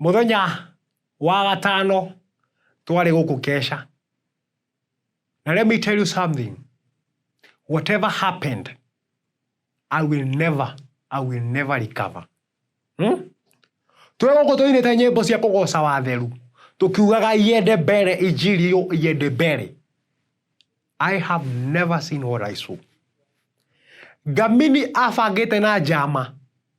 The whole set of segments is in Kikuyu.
Mũthenya wa gatano twarĩ gũkũ Kesha, na let me tell you something, whatever happened, I will never, I will never recover. Hmm? Twĩ gũkũ tũinĩte nyĩmbo cia kũgoca watheru, tũkiugaga iende mbere, injiri yo iende mbere. I have never seen what I saw. Ngamini abangĩte na njama.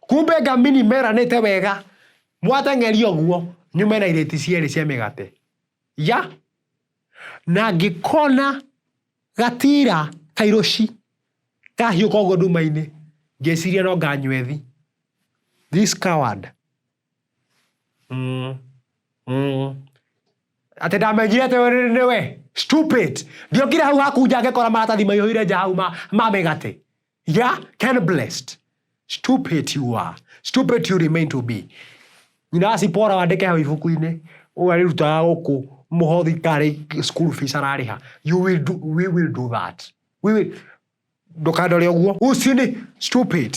Kumbe ngamini meranĩte wega mwateng'eria ũguo nyume na irĩti cierĩ cia mĩgate ya na ngĩkona gatira kairũci kahiũka ũguo nduma-inĩ ngĩciria no nganywethi this coward mm, mm. atĩ ndamenyire atĩ nĩwe stupid ndiokire hau haku nja ngĩkora maratathi maihũire nja hau ma, ma mĩgate ya can blessed stupid you are stupid you remain to be nyina acipora wandĩke hau ibuku-inĩ ũyũ arĩrutaga gũkũ mũhothi karĩ school fees ararĩha you will do, we will do that we will ndũkandore ũguo ucini stupid